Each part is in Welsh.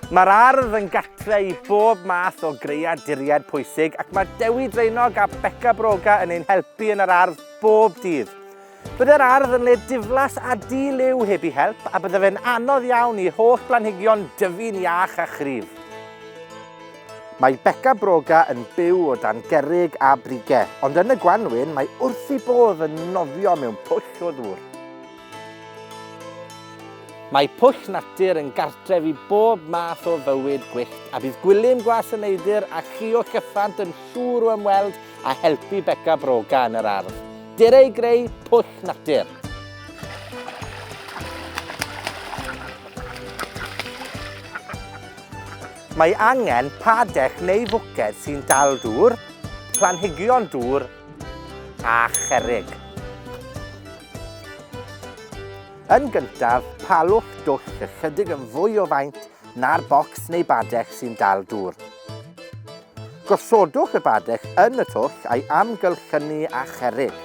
Mae'r ardd yn gatre i bob math o greaduriaid pwysig ac mae Dewi Draenog a Beca Broga yn ein helpu yn yr ardd bob dydd. Byddai'r ardd yn le diflas a di-liw heb i help a bydde fe'n anodd iawn i holl blanhigion dyfu'n iach a chryf. Mae Beca Broga yn byw o dan gerrig a brige, ond yn y gwanwyn mae wrth ei bodd yn nofio mewn pwll o ddŵr. Mae pwll natur yn gartref i bob math o fywyd gwyllt, a bydd Gwilym Gwas y Neidr a Chio Cyffant yn siŵr o ymweld a helpu Beca Broga yn yr ardd. Dere i greu pwll natur! Mae angen padell neu fwced sy'n dal dŵr, planhigion dŵr a cherrig. Yn gyntaf, palwch dwll ychydig yn fwy o faint na'r bocs neu badell sy'n dal dŵr. Gosodwch y badell yn y twll a'i amgylchynu â cherrig.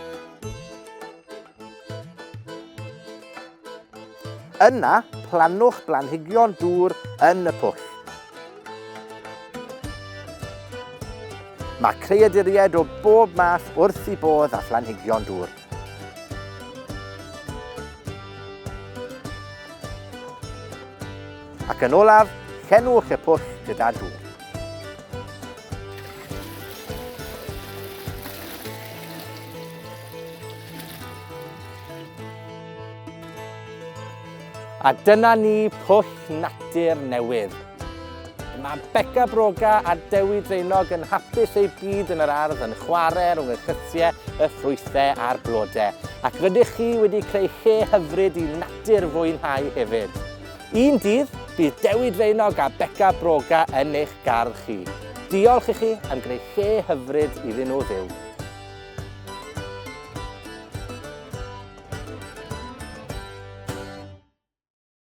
Yna, plannwch blanhigion dŵr yn y pwll. Mae creaduriaid o bob math wrth i bodd a phlanhigion dŵr. Ac yn olaf, llenwch y pwll gyda dŵr. A dyna ni, pwll natur newydd. Mae Beca Broga a Dewi Dreinog yn hapus eu byd yn yr ardd yn chwarae rhwng y chytiau, y ffrwythau a'r blodau. Ac rydych chi wedi creu lle hyfryd i natur fwynhau hefyd. Un dydd, bydd Dewi Draenog a Beca Broga yn eich gardd chi. Diolch i chi am greu lle hyfryd iddyn nhw fyw.